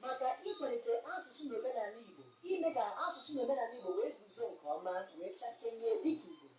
maka ịkwalite asụsụ na omenala Igbo ime ka asụsụ na omenala Igbo wee guzo nke ọma wee chakenye dịka Igbo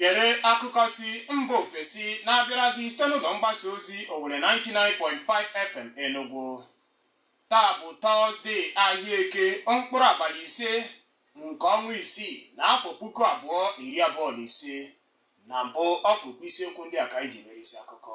Gere akụkọ si mba ofesi na-abịara gị site n'ụlọ mgbasa ozi Owelle 99.5 FM Enugu. Taa bụ Tọzdee ahịa eke mkpụrụ abalị ise nke ọnwa isii na afọ puku abụọ na iri abụọ na ise. Na mbụ ọkpụkpụ isiokwu ndị a ka anyị ji mere isi akụkọ.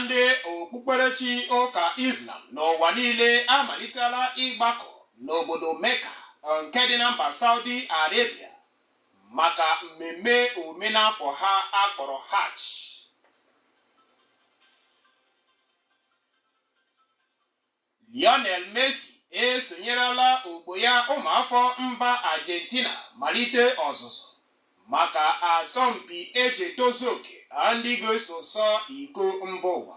Ndị okpukperechi ụka Islam n'ụwa niile amalitela ịgbakọ n'obodo Mecca nke dị na mba Saudi Arabia maka mmemme omenafọ ha a kpọrọ Hajj. Lionel Messi esonyerela ogbo ya ụmụafọ mba Argentina malite ọzụzụ maka asọmpi e ji etozu oke ndị ga-eso sọ iko mba ụwa.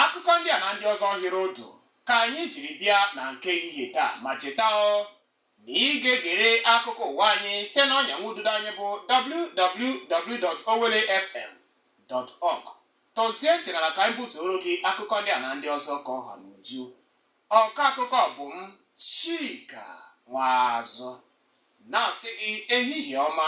Akụkọ ndị a na ndị ọzọ hịrị otu ka anyị jiri bịa na nke ehihie taa ma cheta ọ na ị ga-egere akụkọ ụwa anyị site na ọnya nwududo anyị bụ www.owellefm.org tọzie ntị n'ala ka anyị butuoro gị akụkọ ndị a na ndị ọzọ ka ọ ha n'uju ọkọ akụkọ bụ m Chika Nwazụ na-asị gị ehihie ọma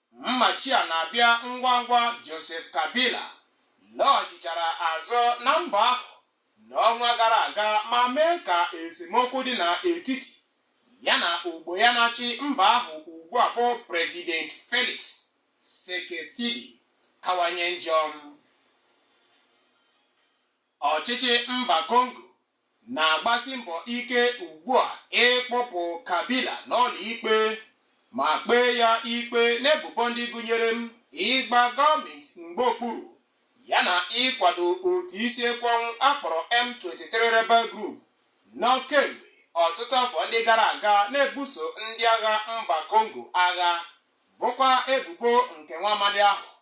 Mmachi a na-abịa ngwa ngwa Joseph Kabila lọghachichara azụ na mba ahụ n'ọnwa gara aga ma mee ka esemokwu dị n'etiti ya na ogbo ya na-achị mba ahụ ugbu a bụ President Felix Tshisekedi kawanye njọ. Ọchịchị mba Kongo na-agbasi mbọ ike ugbu a ịkpụpụ Kabila n'ụlọikpe ma kpee ya ikpe n'ebubo ndị gụnyere m ịgba gọọmenti mgba okpuru yana ịkwado otu isi ekwe ọnwụ a kpọrọ M23 Rebel Group nọ kemgbe ọtụtụ afọ ndị gara aga na-ebuso ndị agha mba Kongo agha bụkwa ebubo nke nwa amadi ahụ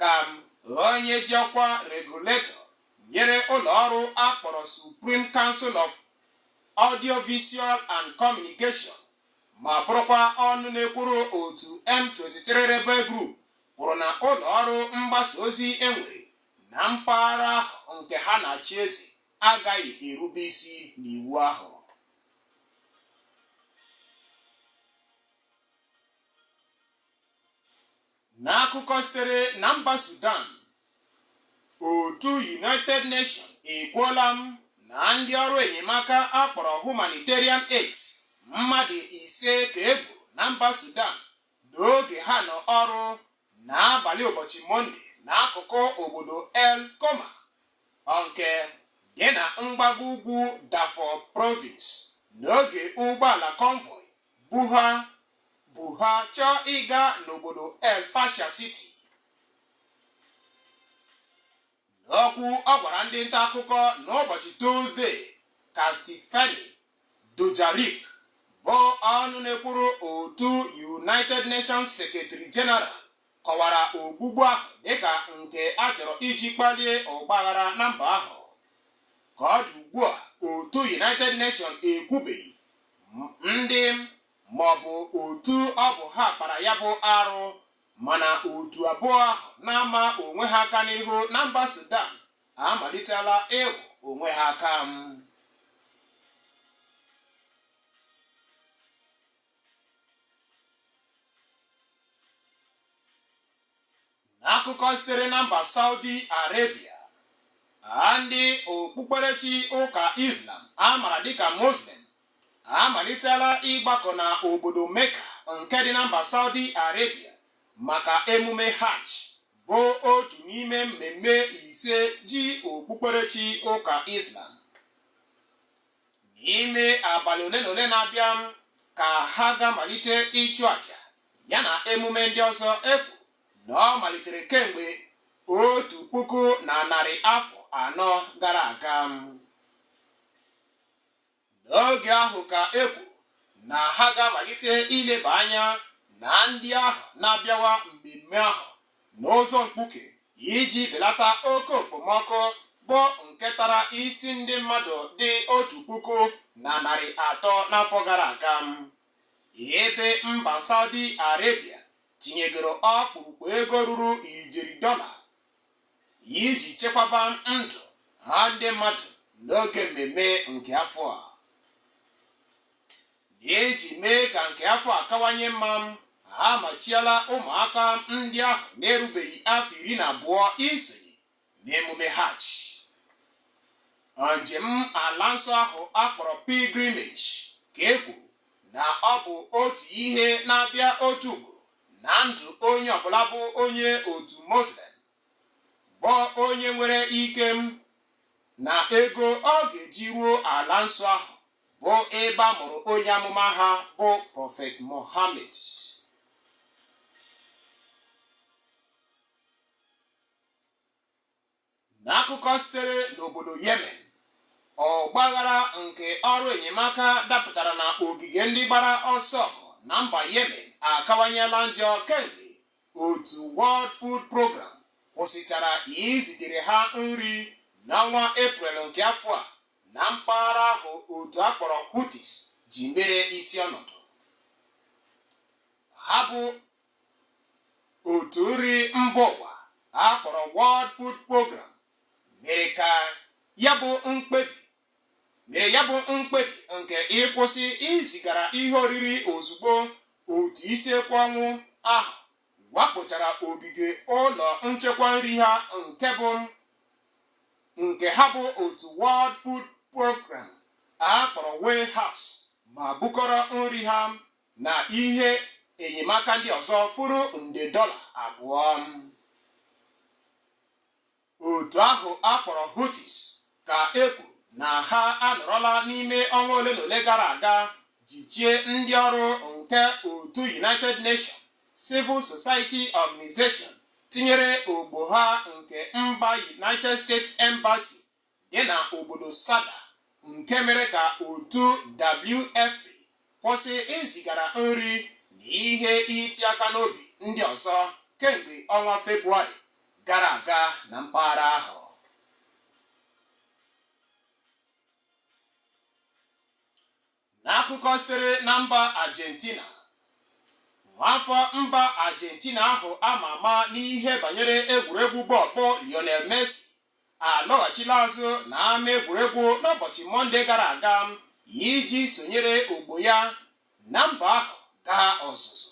ka m ghọọ onye ji ọkwa regulator nyere ụlọ ọrụ a kpọrọ Supreme Council of Audiovisual and Communication ma bụrụkwa ọnụ na-ekwuru otu M23 Rebel Group kwuru na ụlọ ọrụ mgbasa ozi e nwere na mpaghara ahụ nke ha na-achị eze agaghị erube isi n'iwu ahụ N'akụkọ sitere na mba Sudan, otu United Nations ekwuola na ndị ọrụ enyemaka a kpọrọ humanitarian aids mmadụ ise ka e gburu na mba Sudan n'oge ha nọ ọrụ n'abalị ụbọchị Mọnde n'akụkụ obodo El Koma nke dị na mgbago ugwu Darfur Province n'oge ụgbọala convoy bu ha bu ha chọọ ịga n'obodo El Fasher City. N'okwu ọ gwara ndị nta akụkọ n'ụbọchị Tuzde ka Stephanie Dujarric bụ ọnụ na-ekwuru otu United Nations Secretary General kọwara ogbugbu ahụ dịka nke a chọrọ iji kpalie ọgbaghara na mba ahụ. Ka ọ dị ugbu a, otu United Nations ekwubeghị ndị maọbụ otu ọ bụ ha kpara ya bụ arụ mana otu abụọ ahụ na-ama onwe ha aka n'ihu na mba Sudan amalitela ịhụ onwe ha aka N'akụkọ sitere na mba Saudi Arabia, ndị okpukperechi ụka Islam a mara dịka Muslim amalitela ịgbakọ na obodo Mecca nke dị na mba Saudi Arabia maka emume Hajj bụ otu n'ime mmemme ise ji okpukperechi ụka Islam. N'ime abalị ole na ole na-abịa ka ha ga-amalite ịchụ àjà yana emume ndị ọzọ e kwuru na ọ malitere kemgbe otu puku na narị afọ anọ gara aga n'oge ahụ ka e kwuru na ha ga-amalite ileba anya na ndị ahụ na-abịawa mmemme ahụ n'ụzọ mkpuke iji belata oke okpomọkụ bụ nke tara isi ndị mmadụ dị otu puku na narị atọ n'afọ gara aga ebe mba Saudi Arabia tinyegoro ọkpụrụkpụ ego ruru ijeri dọla iji chekwaba ndụ ha ndị mmadụ n'oge mmemme nke afọ a n'iji mee ka nke afọ a kawanye mma ha amachiela ụmụaka ndị ahụ na-erubeghị afọ iri na abụọ isonye n'emume hajj njem ala nsọ ahụ a kpọrọ pilgrimage ka e kwuru na ọ bụ otu ihe na-abịa otu ugboro na ndụ onye ọbụla bụ onye otu muslim bụ onye nwere ike na ego ọ ga-eji ruo ala nsọ ahụ bụ ebe a mụrụ onye amụma ha bụ prọfet mohammed N'akụkọ sitere n'obodo Yemen, ọgbaghara nke ọrụ enyemaka dapụtara na ogige ndị gbara ọsọ ọgụ na mba Yemen akawanyela njọ kemgbe otu World Food Program kwụsịchara izitere ha nri n'ọnwa Eprel nke afọ a na mpaghara ahụ otu a kpọrọ Houthis ji mere isi ọnọdụ. ha bụ otu nri mba ụwa a kpọrọ World Food Program mere ya bụ mkpebi nke ịkwụsị izigara ihe oriri ozugbo otu isi ekwe ọnwụ ahụ wakpochara ogige ụlọ nchekwa nri ha nke ha bụ otu World Food Program a kpọrọ Warehouse ma bukọrọ nri ha na ihe enyemaka ndị ọzọ furu nde dọla abụọ otu ahụ a kpọrọ Houthis ka e kwuru na ha anọrọla n'ime ọnwa ole na ole gara aga jichie ndị ọrụ nke otu United Nations Civil Society Organization tinyere ogbo ha nke mba United States Embassy dị na obodo Saada nke mere ka otu WFP kwụsị izigara nri na ihe iti aka n'obi ndị ọzọ kemgbe ọnwa Febụwarị gara aga na mpaghara ahụ. N'akụkọ sitere na mba Argentina, nwaafọ mba Argentina ahụ a ma ama n'ihe banyere egwuregwu bọọlụ bụ Lionel Messi alọghachila azụ na ama egwuregwu n'ụbọchị Mọnde gara aga iji sonyere ogbo ya na mba ahụ gaa ọzụzụ.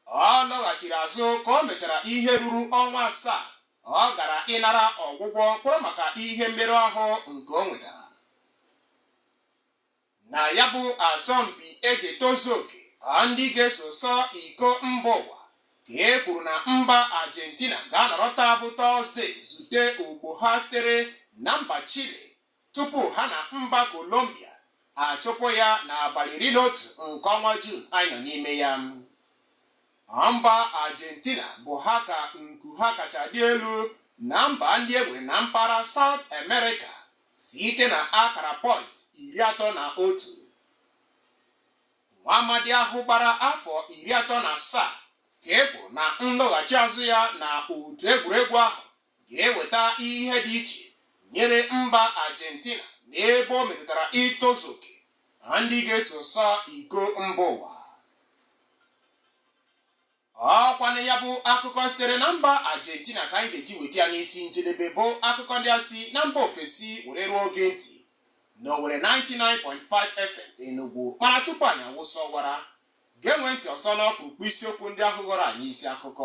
Ọ lọghachiri azụ ka o mechara ihe ruru ọnwa asaa ọ gara ịnara ọgwụgwọ mkpọrọ maka ihe mmerụ ahụ nke o nwetara na ya bụ asọmpi eji etozu oke ndị ga-eso sọ iko mba ụwa ka e kwuru na mba Argentina ga-anọrọ taa bụ Tọzde zute ogbo ha sitere na mba Chile tupu ha na mba Colombia achụpụ ya n'abalị iri na otu nke ọnwa Jun anyị nọ n'ime ya Na mba Argentina bụ ha ka nku ha kacha dị elu na mba ndị e nwere na mpaghara South America site na akara pọint iri atọ na otu. Nwa amadi ahụ gbara afọ iri atọ na asaa ka e kwuru na nlọghachi azụ ya na otu egwuregwu ahụ ga-eweta ihe dị iche nyere mba Argentina n'ebe o metụtara itozu oke na ndị ga-eso sọ iko mba ụwa ọ kwanụ ya bụ akụkọ sitere na mba Argentina ka anyị ga-eji weta ya n'isi njedebe bụ akụkọ ndị a si na mba ofesi were ruo gị ntị na Owelle 99.5 FM Enugu mana tupu anyị awụsa ọwara geenụ ntị ọzọ n'ọkpụrụkpụ isiokwu ndị ahụ ghọrọ anyị isi akụkọ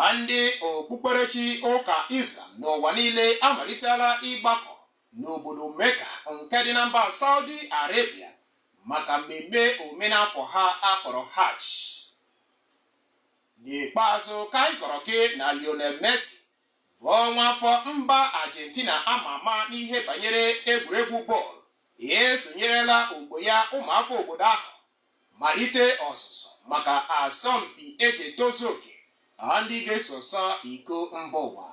A Ndị okpukperechi ụka Islam n'ụwa niile amalitela ịgbakọ n'obodo Mecca nke dị na mba Saudi Arabia maka mmemme omenafọ ha a kpọrọ Hajj. N'ikpeazụ ka anyị kọrọ gị na Lionel Messi bụ nwa afọ mba Argentina ama ama n'ihe banyere egwuregwu bọọlụ esonyerela ogbo ya ụmụafọ obodo ahụ Malite ọzụzụ maka asọmpi e ji etozu oke na ndị ga-eso sọ iko mba ụwa.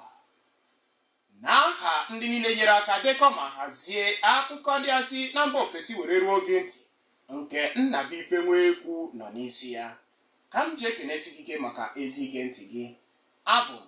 Na aha ndị niile nyere aka dekọ ma hazie akụkọ ndị a si na mba ofesi were ruo gị ntị nke Nnabuife Nwekwu nọ n'isi ya, ka m ji ekenesi gị ike maka ezi ige ntị gị. Abụ m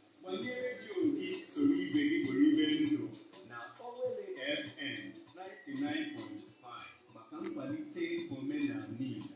Gbanye redio gị soro ibe gị kporie ndụ na Owelle FM 99.5 maka nkwalite omenala Igbo.